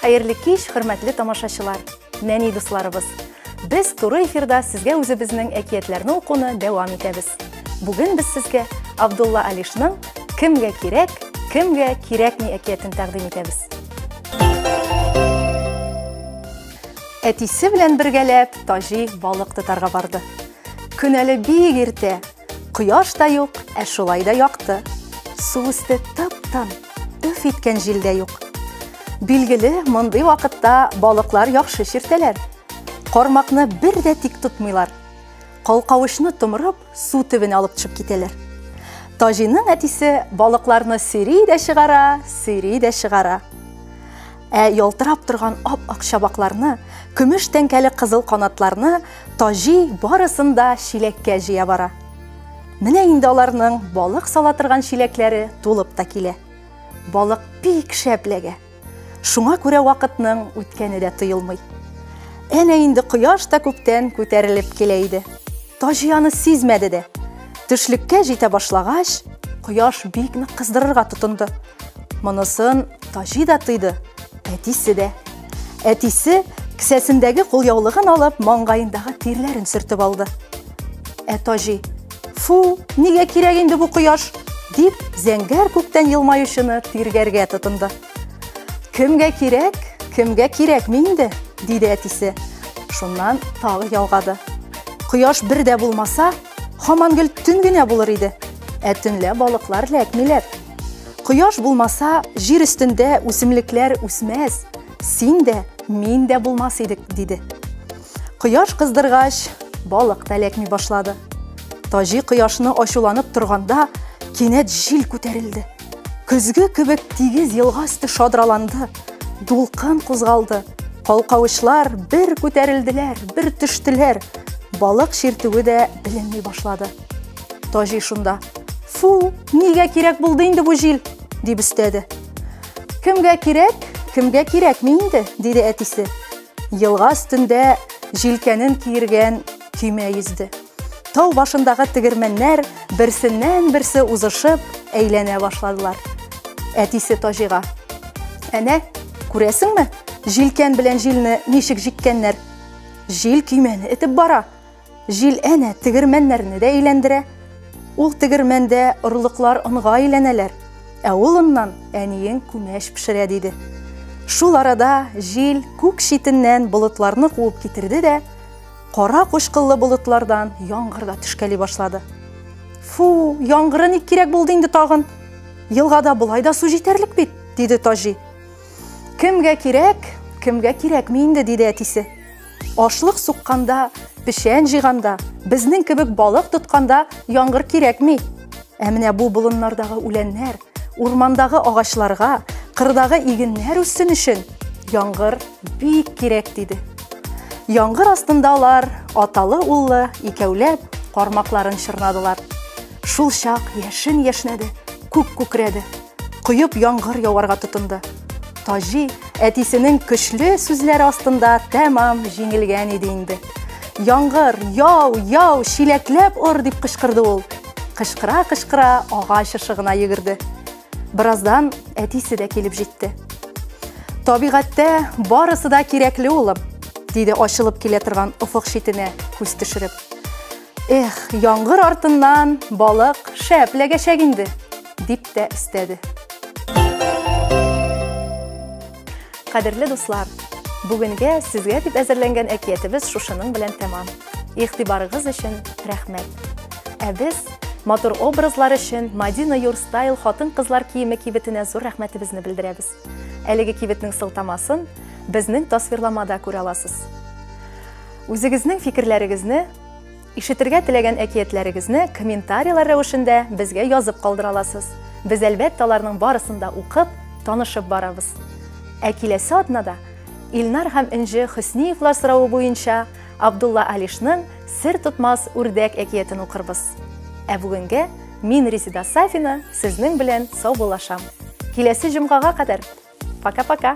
Хәерле кич, хөрмәтле тамашачылар, нәни дусларыбыз. Без туры эфирда сезгә үзебезнең әкиятләрне укуны дәвам итәбез. Бүген без сезгә Абдулла Алишның Кемгә кирәк, кемгә кирәкми әкиятен тәкъдим итәбез. Әтисе белән бергәләп Таҗи балык тотарга барды. Көн әле бик иртә. Кояш та юк, ә шулай да якты. Су өсте тып-тын, өф иткән җил дә юк. Билгеле, мондый вакытта балыклар яхшы чиртәләр. Кармакны бер дә тик тотмыйлар. Калкавычны томырып, су төбенә алып төшеп китәләр. Таҗиның әтисе балыкларны сөйри дә чыгара, сөйри дә чыгара. Ә ялтырап торган ап-ак чабакларны, көмеш тәңкәле кызыл канатларны Таҗи барысын да чиләккә җыя бара. Менә инде аларның балык сала торган чиләкләре тулып та килә. Балык бик шәп ләгә. Шуңа күрә вакытның үткәне дә тоелмый. Әнә инде кояш та күптән күтәрелеп килә иде. Таҗи аны сизмәде дә. Төшлеккә җитә башлагач, кояш бик нык кыздырырга тотынды. Монысын Таҗи да тойды, әтисе дә. Әтисе кесәсендәге кулъяулыгын алып, маңгаендагы тирләрен сөртеп алды. Ә Таҗи, фу, нигә кирәк инде бу кояш? дип, зәңгәр күктән елмаючыны тиргәргә тотынды. Кемгә кирәк, кемгә кирәк минде, диде әтисе. Шуннан тагы ялгады. Кояш бер дә булмаса, хаман гел төн генә булыр иде. Ә төнлә балыклар ләкмиләр. Кояш булмаса, җир өстендә үсемлекләр үсмәс, син дә, мин дә булмас идек, диде. Кояш кыздыргач, балык та ләкми башлады. Таҗи кояшны ачуланып торганда, кинәт җил күтәрелде. Көзге кебек тигез елга өсте шадраланды, дулкын кузгалды. Калкавычлар бер күтәрелделәр, бер төштеләр. Балык чиртүе дә беленми башлады. Таҗи шунда: "Фу, нигә кирәк булды инде бу җил?" дип өстәде. "Кемгә кирәк, кемгә кирәкми инде?" диде әтисе. Елга өстендә җилкәнен киергән көймә йөзде. Тау башындагы тегермәннәр берсеннән-берсе узышып әйләнә башладылар. Әтисе Таҗига. Әнә, күрәсеңме, җилкән белән җилне ничек җиккәннәр? Җил көймәне этеп бара. Җил әнә тегермәннәрне дә әйләндерә. Ул тегермәндә орлыклар онга әйләнәләр, ә ул оннан әниең күмәч пешерә, диде. Шул арада җил күк читеннән болытларны куып китерде дә, кара кучкыллы болытлардан яңгыр да төшкәли башлады. Фу, яңгыры ник кирәк булды инде тагын? Елгада болай да су җитәрлек бит, диде Таҗи. Кемгә кирәк, кемгә кирәкми инде, диде әтисе. Ашлык сукканда, печән җыйганда, безнең кебек балык тотканда яңгыр кирәкми. Ә менә бу болыннардагы үләннәр, урмандагы агачларга, кырдагы игеннәр үссен өчен яңгыр бик кирәк, диде. Яңгыр астында алар аталы-уллы икәүләп кармакларын чорнадылар. Шул чак яшен яшнәде, күк күкрәде, коеп яңгыр яварга тотынды. Таҗи әтисенең көчле сүзләре астында тәмам җиңелгән иде инде. Яңгыр, яу, яу, чиләкләп ор дип кычкырды ул. Кычкыра-кычкыра агач ышыгына йөгерде. Бераздан әтисе дә килеп җитте. Табигатьтә барысы да кирәкле улым, диде ачылып килә торган офык читенә күз төшереп. Эх, яңгыр артыннан балык шәп ләгәчәк инде, дип тә өстәде. Кадерле дуслар, бүгенгә сезгә дип әзерләнгән әкиятебез шушының белән тәмам. Игътибарыгыз өчен рәхмәт. Ә без матур образлар өчен Мадина Юрстайл хатын-кызлар киеме кибетенә зур рәхмәтебезне белдерәбез. Әлеге кибетнең сылтамасын безнең тасвирламада күрә аласыз. Үзегезнең фикерләрегезне, ишетергә теләгән әкиятләрегезне комментарийлар рәвешендә безгә язып калдыра аласыз. Без әлбәттә аларның барысын да укып, танышып барабыз. Ә киләсе атнада Илнар һәм Энҗе Хөсниевлар соравы буенча Абдулла Алишның Сер тотмас үрдәк әкиятен укырбыз. Ә бүгенгә Мин Резеда Сафина, сезнең белән саубуллашам. Киләсе җомгага кадәр. Пока-пока.